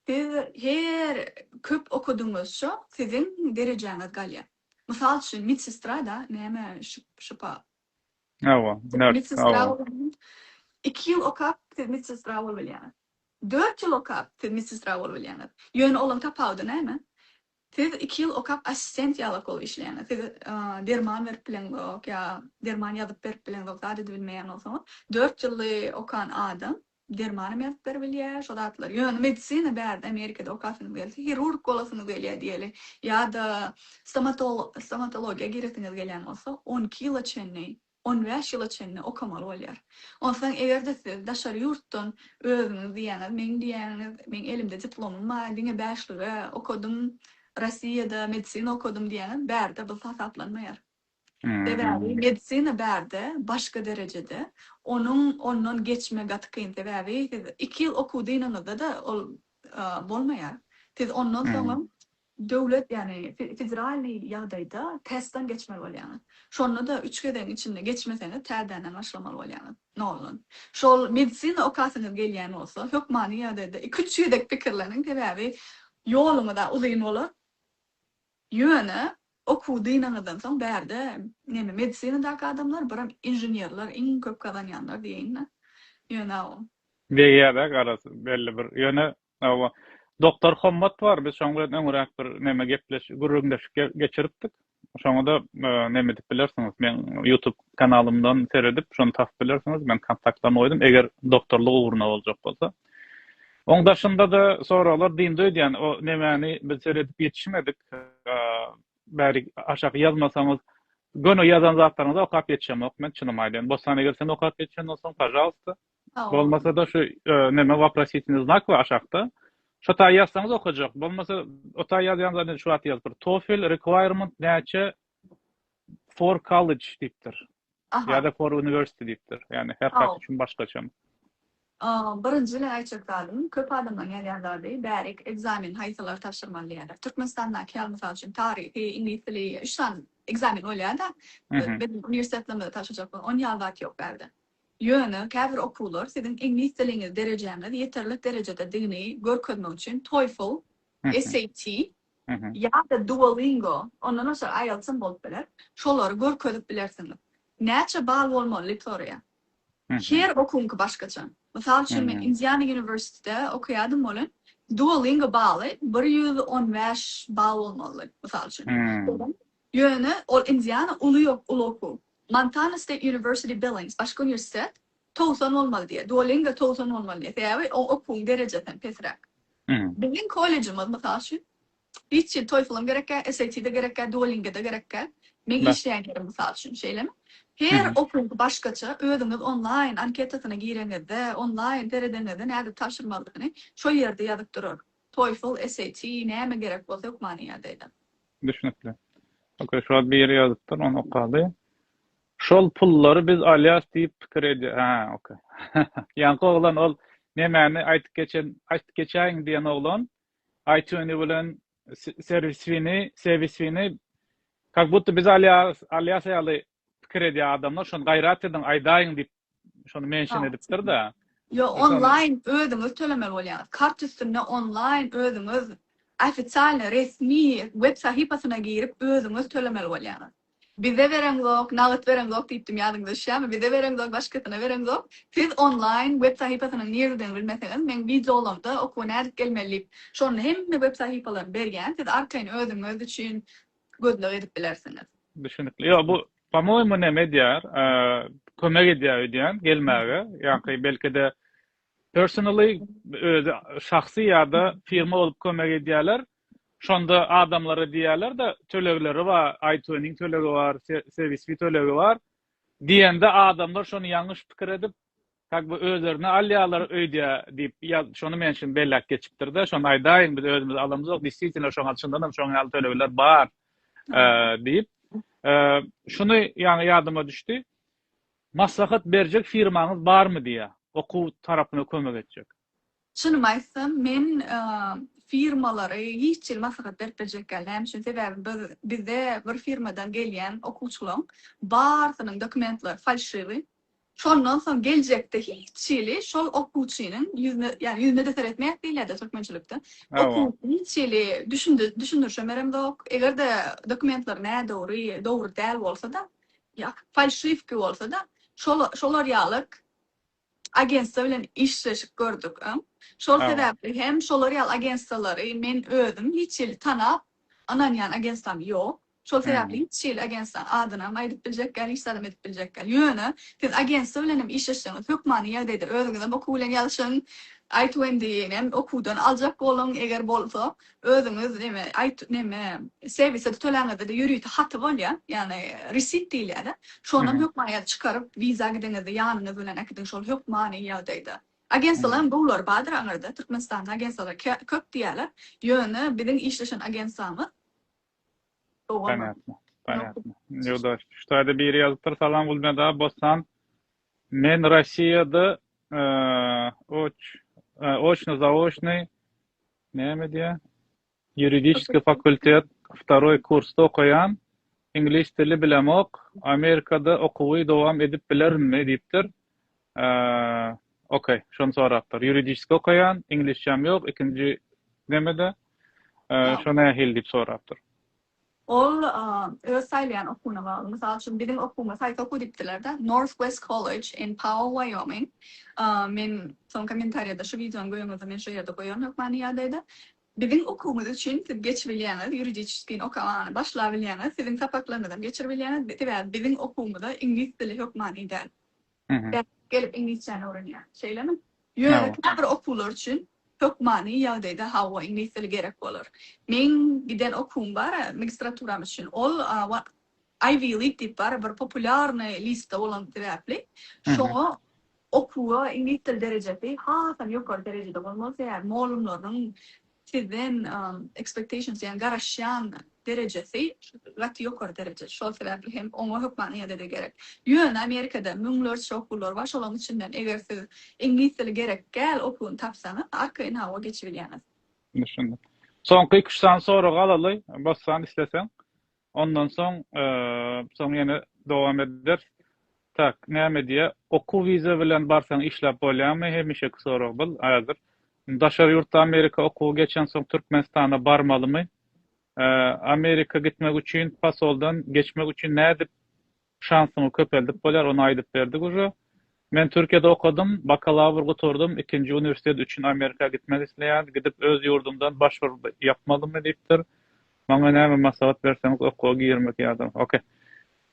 Siz her köp okadygyňyzça siziň derejäňiz galýar. Mysal üçin medsestra-da näme şypa. Hawa, nurse, medsestra bolanyň iki ýyl okap siz medsestra bolubilýäňiz. Dört ýyl okap siz medsestra bolubilýäňiz. Ýöne olaň tapawudy näme? Siz iki ýyl okap assistent ýalak bolup işleýäňiz. Siz derman berip bileňzok ýa derman ýazyp berip bileňzok zat edibilmeýäňoksoňyz. Dört ýylly okan adam Dermany mertler bilýär şo zatlary. Ýöne medisina bärde Amerikada okasynys gelse, hirurg bolasynys gelýär diýeli, ýa-da stomatologiýa giresiňiz gelýän bolsa, on iki ýyla çenli, on bäş ýyla çenli okamaly bolýar. Onsoň eger-de siz daşary ýurtdan özüňiz diýýäňiz, meň diýýäňiz, meň elimde diplomym bar, diňe bäşlige okadym, Rossiýada medisina okadym diýýäňiz, bärde bu hasaplanmaýar. Sebäbi medisina bärde başga derejede, onuň ondan geçme gaty kyn, sebäbi siz iki ýyl okuw dynyňyzda-da ol bolmaýar. Siz ondan soňam döwlet, ýagny federalnyý ýagdaýda testdan geçmeli bolýaňyz. Şonda-da üç gezegiň içinde geçmeseňiz täzeden başlamaly bolýaňyz noldan. Şol medisina okasyňyz gelýän bolsa, hökmany ýagdaýda iki-üç gezek pikirleniň, sebäbi ýoluňyz-a uzyn bolar. Ýöne okuwy dynaňyzdan soň bärde neme medisinadaky adamlar biram inženerler iň köp gazanýanlar diýeýinda ýöne. Degýärde garaz belli bir ýöne oba Doktor Hommat bar biz şoň bilen öňüräk bir neme gepleş gürrüňdeşik geçiripdik şoňada neme edip bilersiňiz meň ýutub kanalymdan seredip şony tapyp bilersiňiz men kontaktlaryny goýdum eger doktorlyk ugruna boljak bolsa. Oň daşynda-da soraglar dyndy öýdýän, o nemäni biz seredip ýetişmedik, bäri aşak ýazmasaňyz, göni ýazan zatlaryňyzy okap ýetişemok men, çynymy aýdaýyn, Bossan egersem okap ýetişenden soň, pažalsta, bolmasa-da şu neme waprositini znak bar aşakda, şo taýy ýazsaňyz okajak, bolmasa o taýy ýazýaňyz, şu wagt ýazyp bir, TOEFL requirement näçe, For college diýipdir. Aha. Ýa-da for university diýipdir. Ýagny her haýsy üçin başgaça. A, birinji ile aýtjak zadym, köp adamlaryň ýazýan zady, bärik ekzamen haýsylary tabşyrmaly diýýärler. Türkmenistandaky ýaly, mysal üçin, taryhy, iňlis dili, üç sany ekzamen bolýar-da, biziň uniwersitetlerimizde tabşyrjak bolan, ony ýaly zat ýok bärde. Ýöne käbir okuwlar siziň iňlis diliňiz derejäňiz ýeterlik derejededigini görkezmek üçin TOEFL, SAT, Ýa-da Duolingo, ondan başga IELTS-am bolup biler. Şolary görkezip bilersiňiz. Näçe bal bolmaly litorýa? Her okuwyňky başgaça. Mysal üçin men Indiana University-de okaýadym welin Duolingo baly bir ýüz on bäş bal bolmalydy, mysal üçin. Ýöne ol Indiana uly uly okuw. Montana State University Billings, başga uniwersitet, Togsan bolmaly diýýär. Duolingo togsan bolmaly diýýär. Sebäbi o okuwyň derejesi hem pesräk. Biziň kollejimiz, mysal üçin, hiç hili TOEFL-am gerekkä, SAT-de gerekkä, Duolingo-da gerekkä. Meň işleýän ýerim, mysal üçin, şeýlemi? Her okuwyňky başgaça. Özüňiz onlaýn anketasyna gireňizde, onlaýn seredeňizde nädip tabşyrmalydygyny şol ýerde ýazyp durar. TOEFL, SAT, näme gerek bolsa hökmany ýa-da edep. Düşnükli. Okey, şular bir ýere ýazypdyr, ony okady. Şol pullary biz alýas diýip pikir edýär ha ok. Ýaňky oglan ol nemäni aýtyp geçen aýtyp geçäýiň diýen oglan aýtüni bilen serwiswini sewiswini kak budda biz alýas alýas ýaly pikir edýär adamlar şony gaýrat ediň aýdaýyň diýip şony mention edipdir-de. Ýok, onlaýn özüňiz tölemeli bolýaňyz. Kart üstünde onlaýn özüňiz ofisialny, resmi web sahypasyna girip özüňiz tölemeli bolýaňyz. Bize bereňzok, nagt bereňzok diýipdim ýadyňyza düşýärmi? Bize bereňzok, başgasyna bereňzok. Siz onlaýn web sahypasynyň niredigini bilmeseňiz, meň wideolamda okuwa nädip gelmeli diýip, şonda hemme web sahypalaryny berýän. Siz arkaýyn özüňiz üçin gözleg edip bilersiňiz. Düşünikli. Ýok, bu Pomoýmy näme edýär? Kömek edýär öýdýän gelmäge. Ýa-da belki-de personally özi şahsy ýa-da firma bolup kömek edýärler. Şonda adamlara diýýärler-de, tölegleri bar, iTuning tölegi bar, serwisli tölegi bar. Diýende adamlar şony ýalňyş pikir edip, Kak bu özlerini alýarlar öýdýä diýip ýaz şony men şim belläp geçipdirde şony aýdaýyň biz özümiz alamyzok disýtinle şoňa çyndanam şoň ýaly tölegler bar diýip şuny ýaňy ýadyma düşdi maslahat berjek firmaňyz barmy diýýä okuw tarapyna kömek etjek. Çynymy aýtsam, men firmalary hiç hili maslahat berip biljek däl. Näme üçin? Sebäbi biz, bize bir firmadan gelýän okuwçylaryň barysynyň dokumentleri falşiwi. Şondan soň geljekde hiç hili şol okuwçynyň ýüzüne, ýagny ýüzüne-de seretmeýäs diýilýär-de türkmençilikde. Okuwçy hiç hili düşündi, düşündirişemeremzok. Eger-de dokumentleri nädogry, dogry däl bolsa-da, ýa, falşiwki bolsa-da, şol, şolar ýalyk agentstwa bilen işleşik gördük. Şol sebäpli hem şolar ýaly agentstwalary men özüm hiç hili tanap, ynanýan agentstwam ýok. Şol sebäpli hiç hili agentstwanyň adynam aýdyp biljek däl, hiç zadam edip biljek däl. Ýöne siz agentstwa bilen hem işleşseňiz, hökmany ýagdaýda özüňizem okuw bilen ýazyşyň, aýtuwendinem okuwdan aljak boluň, eger bolsa, Özüňiz neme aýt neme serwise töläňizde-de ýörite haty bolýar, ýagny receipt diýilýär-de. Şondan hökmany çykaryp wiza gideňizde ýanyňyz bilen äkidiň şol hökmany ýagdaýda. Agensiýalaryň gowulary bardyr aňyrda, Türkmenistanda agensiýalar köp diýýärler, ýöne biziň işleşen agensiýamyz Ponýatno, ponýatno. Ýogda şu taýda biri ýazypdyr, Salam Gulmyrat aga, Bossan. Men Rossiýada oç oçny zaoçny Näme edýär? Ýuridiski fakultet wtaroý kursda okaýan, iňlis dili bilemok, Amerikada okuwy dowam edip bilerinmi? diýipdir. Okey, şony sorapdyr. Ýuridiski okaýan, iňlisçäm ýok, ikinji nemede, şo nähili diýip sorapdyr. Ol öz saýlaýan okuwyna bagly. Mysal üçin, biziň okuwyňa haýsy okuw diýipdiler-de, Northwest College in Powell, Wyoming. Men soň kommentariýada şu wideonyň göýäňizde men şo ýerde goýaryn hökmany ýagdaýda. Biziň okuwymyz üçin siz geçibilýäňiz, ýuridiçeskiň okamany başlabilýäňiz, siziň sapaklaryňyzam geçiribilýäňiz, sebäbi biziň okuwymyza iňlis dili hökmany däl. gelip iňlisçäni öwrenýär. Şeýlemi? Ýöne käbir okuwlar üçin hökmany ýagdaýda hawa, iňlis dili gerek bolar. Meň giden okuwym bar-a, magistraturam üçin, ol Ivy League diýip bar-a bir populýarny listde bolan sebäpli, şoňa okuwa iňlis dili derejesi hasam ýokary derejede bolmaly, sebäbi mollumlarynyň Sizden expectations ýagny garaşýan derejesi gaty ýokary dereje. Şol sebäpli hem oňa hökman ýa-da-da gerek. Ýöne Amerikada müňlerçe okuwlar bar, şolaryň içinden eger siz iňlis dili gerek däl okuwyny tapsaňyz, arka inawa geçibilýäňiz. Düşündim. Soňky iki-üç sany soragy alaly, bassan isleseň. Ondan soň soň ýene dowam ederis. Tak, näme diýýä, okuw wiza bilen barsaň işläp bolýamy, hemişeki sorag bul häzir. Daşary ýurtda Amerika okuwy geçensoň Türkmenistana barmalymy? Amerika gitmek üçin pasoldan geçmek üçin nädip Şansyňy köpeldip bolýar, ony aýdyp berdik uje. Men Türkiýede okadym, bakalawr gutardym, ikinji uniwersitet üçin Amerika gitmek isleýän, gidip öz ýurdumdan başwr ýapmalymy diýipdir. Maňa näme maslahat berseňiz okuwa girmek ýa-da ok.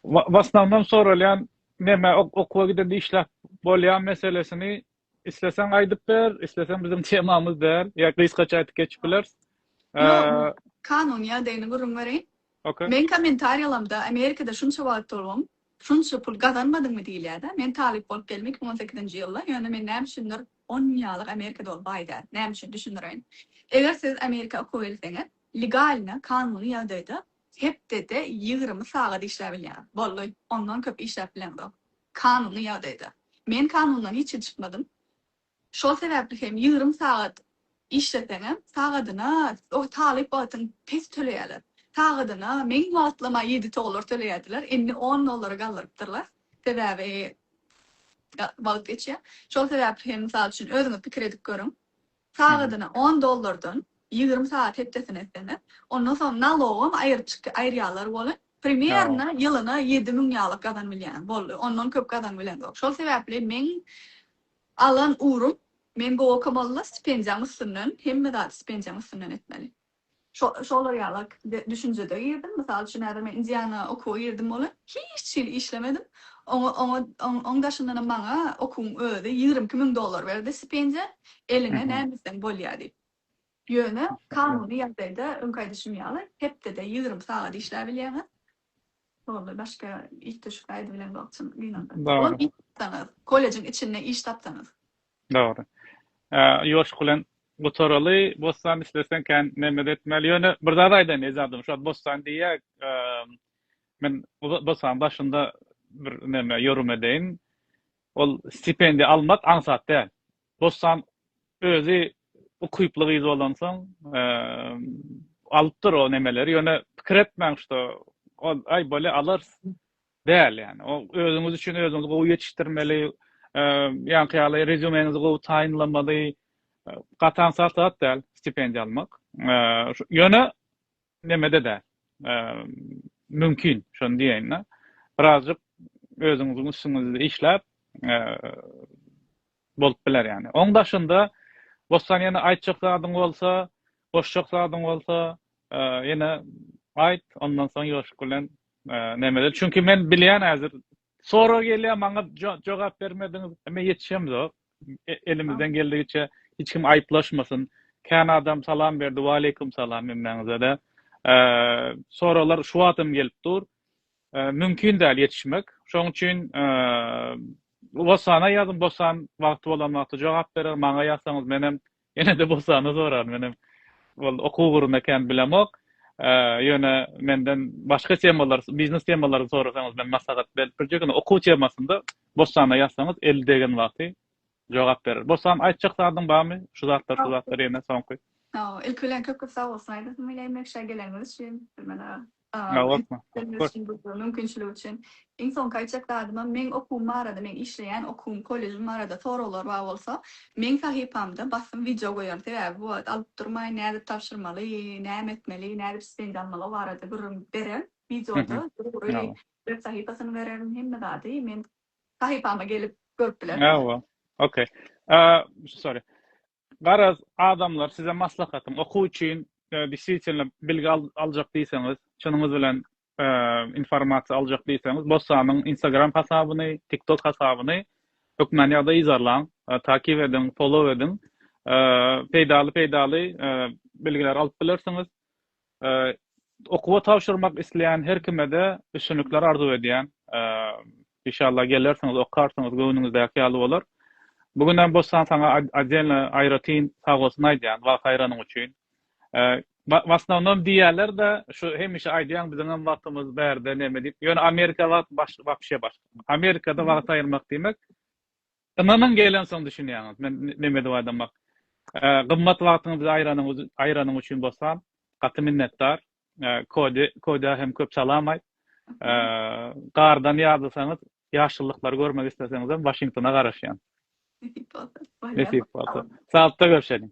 W asnawnom soralýan neme okuwa gidende işläp bolýa meselesini Isleseň aýdyp ber, isleseň biziň temamyz däl, ýa gysgaça aýdyp geçip bileris. Ýok, kanun ýagdaýyny gürrüň bereýin. Okey. Meň kommentariýalamda Amerikada şunça wagt turguň, şunça pul gazanmadyňmy diýilýär-dä. Men talyp bolup geldim iki müň on sekizinji ýylda, ýöne men näme üçindir on ýalyk Amerikada bolup baý däl. Näme üçin? Düşündireýin. Eger siz Amerika okuwa gelseňiz, legalno, kanuny ýagdaýda hepdede ýigrimi sagat işläp bilýäňiz. Boldy. Ondan köp işläp bileňzok. Kanuny ýagdaýda. Men kanundan hiç hili çykmadym. Şol sebäpli hem ýigrimi sagat işleseňem, sagadyna o talyp wagtyň pes töleýärler. Sagadyna meň wagtlama ýedi toglar töleýärdiler, indi on dollara galdyrypdyrlar. Sebäbi wagt geçýär. Şol sebäpli hem mysal üçin özüňiz pikir edip görüň. Sagadyna on dollardan ýigrimi sagat hepdesine etsene ondan soň nalogam aýyrçyk aýyrýalar welin primerno ýylyna ýedi müň ýalyk gazanybilýäň boldy ondan köp gazanybilendok şol sebäpli meň alan ugrum men bu okamalla stipendiýaň üstünden hemme zady stipendiýaň üstünden etmeli. Şolar ýaly düşünjede girdim. Mysal üçin, häzir men Indiana okuwa girdim welin, hiç hili işlemedim. Oňa, oň daşyndanam maňa okuwyň özi ýigrimi iki müň dollar berdi stipendiýa, eliňe näme etseň bolýar diýip. Ýöne kanuny ýagdaýda öňki aýdyşym ýaly, hepdede ýigrimi sagat işläbilýäňiz. Boldy, başga it düşük aýdy bilen bolsun kinoda. Ol it tapsaňyz, kollejiň içinde iş tapsaňyz. Dogry. Ýoşuk bilen gutaraly, Bossan isleseň kän neme-de etmeli. Ýöne bir zat aýdaýyn ejadym, şo Bossan diýýäk, men Bossanyň daşynda bir neme ýorum edeýin. Ol stipendiýa almak aňsat däl. Bossan özi ukyply gyz bolansoň alypdyr o nemeleri ýöne pikir etmäň şo ol aý bolýa alarys däl ýani o özüňiz üçin özüňizi gowy ýetişdirmeli ýaňky ýaly rezýumeňizi gowy taýynlamaly gatan sat zat däl stipendiýa almak ýöne Nemede däl. Mümkin, şony diýeýin-de, birazjyk özüňiziň üstüňizde işläp bolup biler ýagny. Oň daşynda Bossan ýene aýtjak zadyň bolsa, goşjak zadyň bolsa, ýene aýt, ondan soň ýoşup bilen Nemede. Çünki men bilýän häzir Sorag gelýär maňa jogap bermediňiz. Men ýetişemzok. Elimizden geldigiçe hiç kim aýyplaşmasyn. Kän adam salam berdi. Waleýkum salam hemmäňizede. Soraglar şu wagt hem gelip dur. Mümkin däl ýetişmek. Şoň üçin Wosana ýazyň Wosan wagty bolan wagty jogap berer. Maňa ýazsaňyz men hem Ýene-de Bosany soran. Menem ol okuw ugrunda kän bilemok. Ýöne menden başga temalar, biznes temalary sorasaňyz men maslahat berip biljek. Ýöne okuw temasynda Bosana ýazsaňyz eli degen wagty jogap berer. Bosan aýtjak zadyň barmy? Şu zatlar, şu zatlar ýene soňky. Ilki bilen köp-köp sag bolsun aýdasym gelýär Meşa geleniňiz üçin Türkmen aga. Sag bol. Mümkinçilik üçin. Iň soňky aýtjak zadymam meň okuwym barada meň işleýän okuwym kollejim barada soraglar bar bolsa meň sahypamda basym wideo goýaryn sebäbi bu wagt alyp durmaýyn nädip tabşyrmaly näme etmeli nädip stipendiýa almaly o barada gürrüň bererin wideoda dogry web sahypasyny bererin hemme zady men sahypama gelip görüp bilerler. Okey. Sorry. Garaz, adamlar, size maslahatym, okuw üçin deswitelno bilgi aljak diýseňiz, çynyňyz bilen informasiýa aljak diýseňiz, Bossanyň Instagram hasabyny, TikTok hasabyny hökmany ýagdaýda yzarlaň, takip ediň, follow ediň. Peýdaly-peýdaly bilgiler alyp bilersiňiz. Okuwa tabşyrmak isleýän her kime-de üstünlikler arzuw edýän. Inşallah gelersiňiz, okarsyňyz, göwnüňizdäki ýaly bolar. Bu günem Bossan saňa odelno aýratyn sagbolsun aýdýan, wagt aýranyň üçin. W asnownom diýýäler-de, şu hemişe aýdýaň biziňem wagtymyz bärde neme diýip, ýöne Amerika wagt wapşe başga. Amerikada wagt aýyrmak diýmek Ynanyň gelensoň düşünýäňiz. Men näme edip aýdamak. Gymmat wagtyňyzy aýranyň üçin bossan gaty minnetdar. Kodi, Kodä hem köp salam aýt. Gardan ýadysaňyz, ýaşyllyklary görmek isleseňizem Waşingtona garaşýan. Nesip bolsa. Saglyk da görüşeliň.